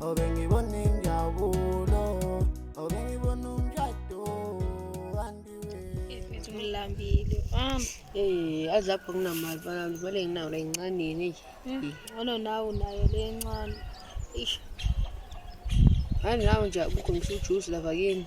obengibona injabulo obengibona umshado andiwe ithi ngilambile um hey azi lapho nginamali balami vele nginawo la incanini nje hmm, ngono nawe unayo le ncane ish ngani nawe nje akukho ngisho ujuice lava kini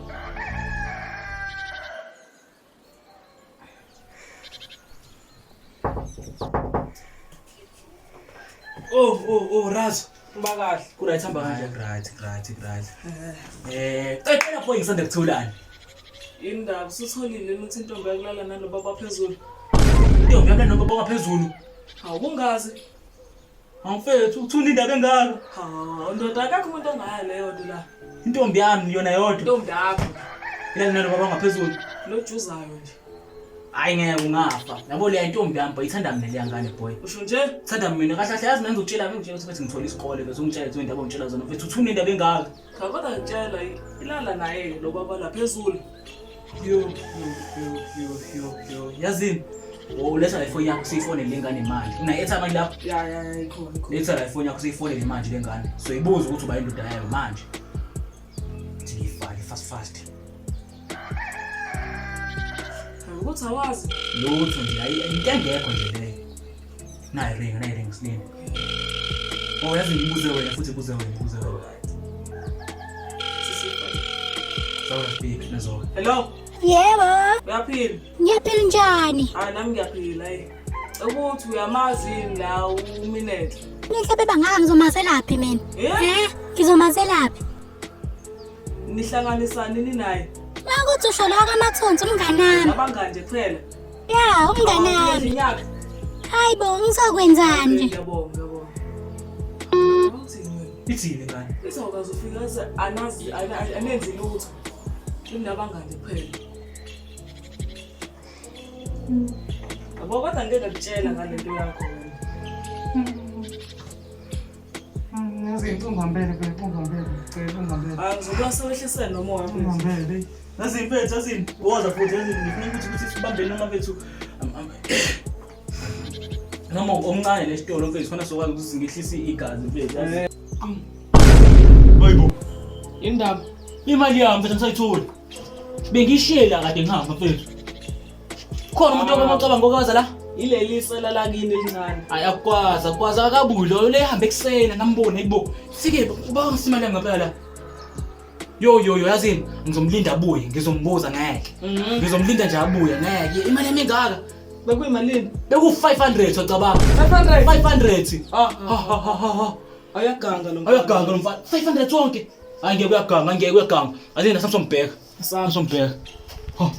Oh, oh, oh, Raz. Uba kahle. Kuright hamba kanjani? Right, right, right. Eh, cela pho ngisanda kutholani. Indaba usutholile ukuthi intombi yakulala nalobaba phezulu. Intombi yakulala nalobaba phezulu. Awungazi. Mfethu uthula indaba engaka? Ha, ndoda akakho umuntu ongayo leyo nto la. Intombi yami yona yodwa. Intombi yakho. Ilale nalo baba ngaphezulu. Lo juzayo nje. Hayi ngeke ungafa. Yabo le intombi yami boy ithanda mina le ngane boy. Usho nje? Ithanda mina kahle kahle yazi mina ngizokutshela mina nje ukuthi bethi ngithola isikole bese ungitshela izinto abongitshela zona. Mfethu uthula indaba engaka? Cha kodwa ngitshela ilala naye lo baba la phezulu. Yo yo yo yo yo yo. Yazini. Oh, uletha la ifoni yakho siyifonele le ngane manje. Una etha manje lapho. Ya ya ya ikhona ikhona. Letha la ifoni yakho siyifonele manje le ngane. So ibuza ukuthi uba indoda yayo manje. Ngifake fast fast. Ukuthi awazi. Lutho nje ayi into engekho nje leyo. Nayi ring, nayi ring slini. Oh yazi ngibuze wena futhi buze wena, buze wena. Sawa speak nazo. Hello. Yebo. Uyaphila? Ngiyaphila njani? Hayi nami ngiyaphila hayi. Ukuthi uyamazi yini la uminethe? Ngihle beba ngaka ngizomazelaphi mina? Eh? Ngizomazelaphi? Nihlanganisani ninaye? Makuthi usho lowo kamathonsi umnganami. Abangani nje kuphela. Ya, umnganami. Nginyaka. Hayi bo, ngizokwenzani? Ngiyabonga, ngiyabonga. Ithini ngani? Izokwazi ufika ze anazi anenzi lutho. Kunabangani kuphela. Yabo kodwa ngeke ngikutshela ngalento yakho. Ngaze ngithi ungambele bebe ungambele cela ungambele. Angizokwazi sowehlisa noma wakho. Ungambele. Ngaze impethu azini woza futhi azini ngifuna ukuthi ukuthi sibambene noma bethu. Noma omncane lesitolo mfethu khona sokwazi ukuthi singehlisa igazi mfethu. Hayibo. Indaba imali yami mfethu ngisayithola. Bengishiyela kade ngihamba mfethu. Khona umuntu okomocabanga ngokaza la. Ileli sela lakini elincane. Hayi akwazi akwazi akabuyi loyo lehambe ekuseni ngambone ayibo. Sike uba ngisimane ngempela la. Yo yo yo yazini ngizomlinda abuye ngizombuza ngeke. Mhm. Ngizomlinda nje abuye ngeke. Imali yami engaka. Bekuyimalini? Beku 500 ocabanga. 500. 500. Ah, Ha ha ha ha. ha. Ayaganga lo. Ayaganga lo mfana. 500 wonke. Hayi ngeke uyaganga ngeke uyaganga. Azini nasamsombheka. Saan zo'n beer? Oh.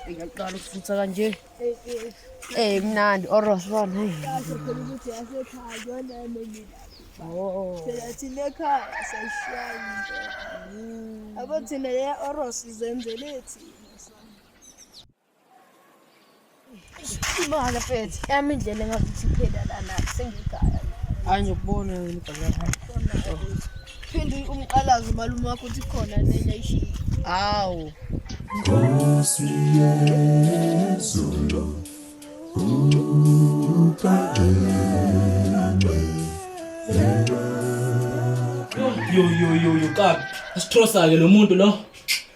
Ngiyaqala ukufuthi kanje. Eh mnandi oros bona. Oh. Phela thina ekhaya sayishaya into. Abo thina le oros izenzele thina. Imali mfethu, yami indlela engakuthi iphela lana sengigaya. Hayi ngikubona wena ibhakala. Phinde umqalazo malume wakho uthi khona nenye ishiya. Hawu. Nkosi yezulu. Yo yo yo yo kabi. Asithosa ke lo muntu lo.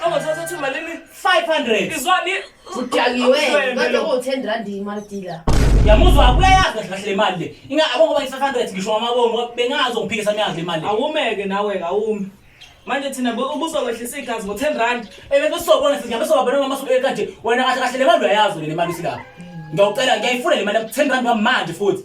Qongo thatha thi malini? 500. Izwani? Udakiwe. Kodwa ko 10 rand imali dealer. Yamuzwa akuyayazi kahle kahle imali le. Inga abongo bayi 500 ngisho amabongo bengazo ngiphikisa miyazi imali. Awumeke nawe kawumi. Manje thina ubuzokwehlisa igazi ngo 10 rand. Ebe besobona sithi ngabe sobabona mama so ekanje wena kahle kahle le mali uyayazi le mali silapha. Ngiyawucela ngiyayifuna le mali 10 rand manje futhi.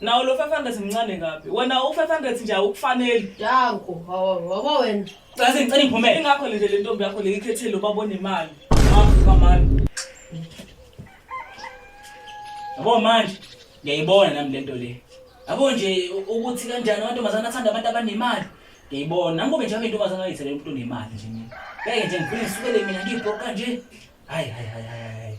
nawo lo 500 mncane kabi wena u 500 nje awukufaneli danko ngoba wena caze ngicela ngiphume ingakho nje le ntombi yakho le ikhethile ubabona imali afuka mali yabo manje ngiyayibona nami lento le yabo nje ukuthi kanjani amantombazana athanda abantu abanemali ngiyayibona nami kube njalo intombazana ayithele umuntu onemali nje mina ngeke nje ngifike ngisukele mina ngibhoka nje hayi hayi hayi